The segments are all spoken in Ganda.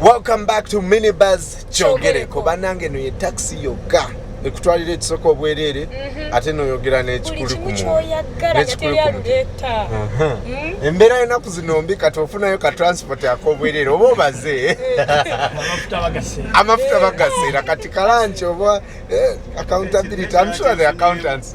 Welcome back to Minibuzz Kyogereko. Banange no ye taxi yoga. Ekutwalira ekisoko obwerere mhm. ate no yogera ne kikuli ku. Ne kikuli ku. Mhm. Embera yona kuzinombi kati ofuna yo ka transport ya kobwerere obo baze. Amafuta bagase. Amafuta bagase kati kalancho obo eh, accountability. I'm sure the accountants.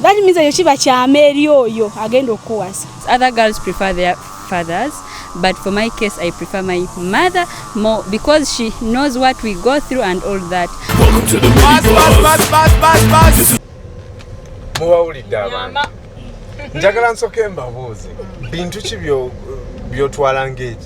That means eyo kiba kyama eri oyo agenda okukuwasa. Other girls prefer their fathers but for my case I prefer my mother more because she knows what we go through and all that. Welcome to the bus, bus, bus, bus, bus, bus. Muwawulidde abantu njagala nsoke mbabuuze bintu ki byotwala ng'eki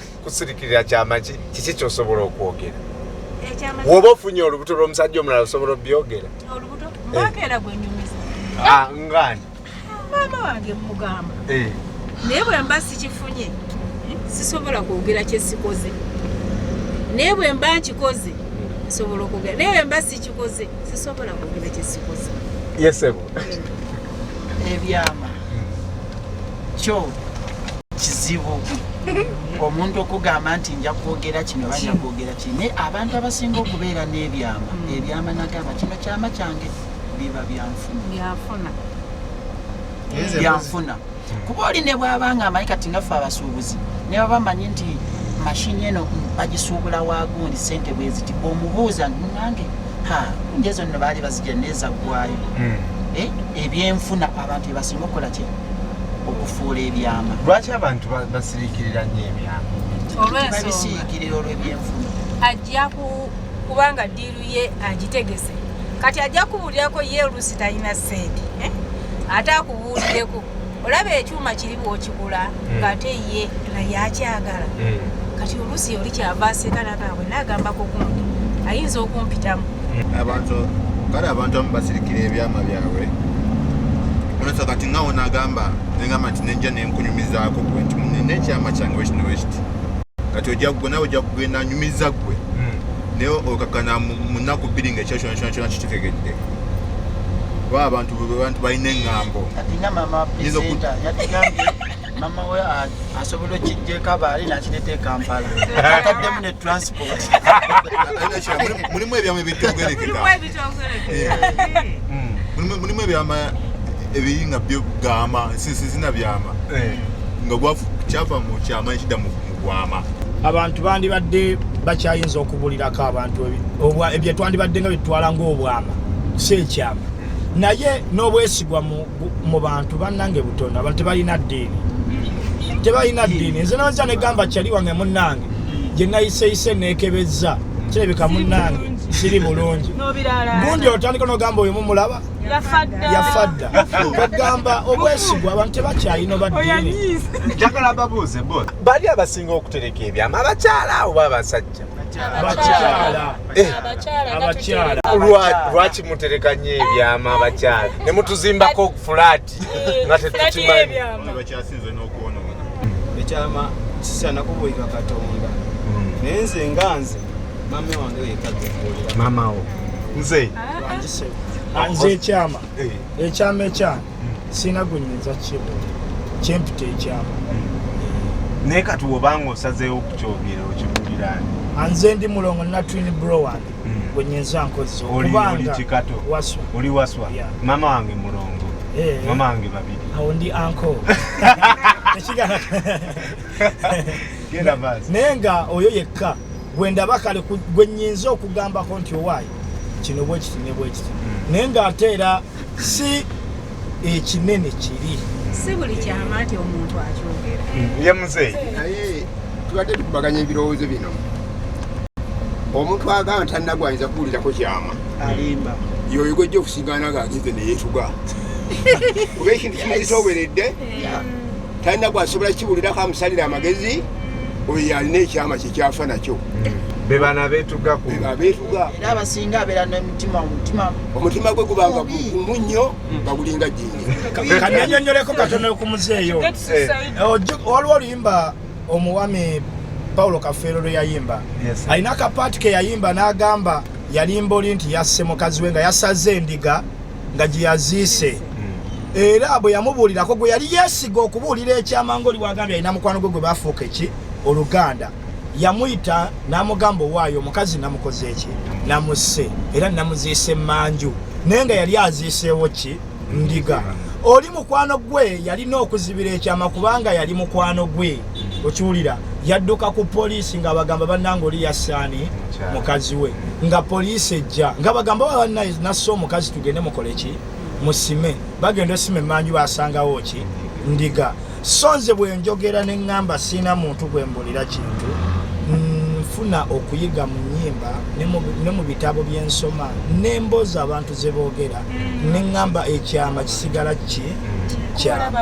kusirikirira kyamaki kiki kyosobola okwogera woba ofunye olubuto lwomusajja omulala osobola obyogera ngani maama wange mugamba eh. naye bwemba sikifunye sisobola kwogera kyesikoze naye bwemba nkikoze nsobola okwogera naye bwemba sikikoze sisobola kwogera kyesikoze yesebo ebyama kyo kizibu omuntu okugamba nti nja kwogera kino banja kwogera kino naye abantu abasinga okubeera n'ebyama hmm. ebyama nagamba kino kyama kyange biba byanfuna byanfuna kuba oli ne bwaba nga amanyi kati ngaffe abasuubuzi ne baba manyi nti mashini eno bagisuubula wagundi sente bweziti omubuuza nange njezo nno baali bazija neeza ggwayo hmm. eh, ebyenfuna abantu ebasinga okukola ki okufuula ebyama lwaki abantu basirikirira nyo ebyama olwensonga babisirikirira olwebyenfuna ajja kubanga ye agitegese kati ajja kubuulirako ye oluusi talina sente eh? ate akubuulireko olaba ekyuma kiri bwokigula hmm. ngaate ye naye akyagala hmm. kati oluusi yoli kyava aseka nagambwe nagambako gundi ayinza okumpitamu hmm. abantu kale abantu amu basirikira ebyama byabwe onosa kati ngawo nagamba nengamba nti nenja nenkunyumizaako gwe nti nekyama kyange wekino wekiti kati ojja gwe nawe ojja kugenda anyumiza gwe naye okakana mu nnaku bbiri nga ekyo kyona kyona kyona kitegedde kuba abantu bantu balina eŋŋambo mama we asobola okijjeko abaali nakireta ekampala ataddemu ne transport mulimu ebyamwe ebityogerekeka mulimu ebyama ebiri nga byo gamba sizina byama eh. nga kyava mu kyama ekidda mu gwama abantu bandibadde bakyayinza okubulirako abantu ebyo twandibadde nga byetutwala ngaobwama si ekyama naye n'obwesigwa mu bantu bannange butono abantu tebalina ddiini tebalina ddiini nze naza negamba kyali wange munnange gye nayiseyise neekebezza kirabika munnange kiri bulungi gundi otandika nogamba oyo mumulaba yafa dda ogamba obwesigwa abantu tebakyalina obaddiini bali abasinga okutereka ebyama abakyala oba abasajja eh. lwaki mutereka nyo ebyama abakyala ne mutuzimbako fulaati eh, nga tetukimanyi ekyama kisaana kubuulira katonda hmm. naye nze nga nze maama wo nze ah, nze ekyama eh. ekyama ekyama sirina gwenyinza kibu kyempita ekyama hmm. naye kati wobanga osazeewo okukyogera okibuulirani ah, nze ndi mulongo natwin bro wange hmm. gwenyinza nkozesa okubanga oli waswa maama wange mulongo Eh. mama wange babiri awo ndi anko naye nga oyo yekka gwendaba kale gwenyinza okugambako nti owaayi kino bwekiti ne bwekiti hmm. naye nga ate era si ekinene kiri si buli kyama nti omuntu akyogera hmm. ye muzeeyi naye tubadde tukubaganya ebirowoozo bino omuntu agamba tannagwanyiza kuwulirako kyama alimba yoyo gwejja okusigaana nga agize neyetuga kuba ekintu kimaze toberedde talina gwasobola kiwulirako amusalira amagezi oyo alina ekyama kyekyafa nakyo bebana betuga abasinga abeera nomutima omutima omutima gwe gubanga gumu nnyo nga gulinga jini kananyonyoleko katono okumuzeeyo waliwo oluyimba omuwami paulo kafeero lwe yayimba alina akapaati ke yayimba n'agamba yalimba oli nti yasse mukazi we nga yasaze endiga nga gye yaziise era bwe yamubuulirako gwe yali yeesiga okubuulira ekyama ngaoli wagambye alina mukwano gwe gwe bafuuka eki oluganda yamuyita n'amugamba owaayo omukazi namukoze eki namusse era namuziisa emmanju naye nga yali aziiseewo ki ndiga oli mukwano gwe yalina okuzibira ekyama kubanga yali mukwano gwe okiwulira yadduka ku poliisi nga bagamba bannanga oli yassaani mukazi we nga poliisi ejja nga bagamba nassa omukazi tugende mukole ki musime bagenda osima emanju basangawo ki ndiga so nze bwenjogera neŋŋamba siina muntu gwe mbulira kintu nfuna okuyiga mu nyimba ne mu bitabo byensoma n'emboozi abantu ze boogera neŋŋamba ekyama kisigala ki kyama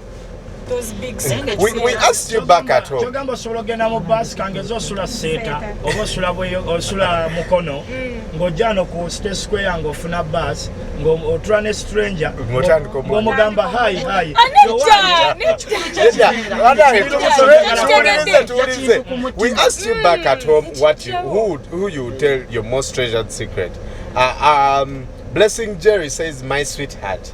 kyogamba osobola ogenda mu baasi kangeza osula seeta oba osula mukono mm. ng'ojano ku state square ng'ofuna baasi ng'otula ne stranger ng'omugamba hayi hayi We asked you back at home what you, who, who you tell your most treasured secret. Uh, um, Blessing Jerry says, My sweetheart.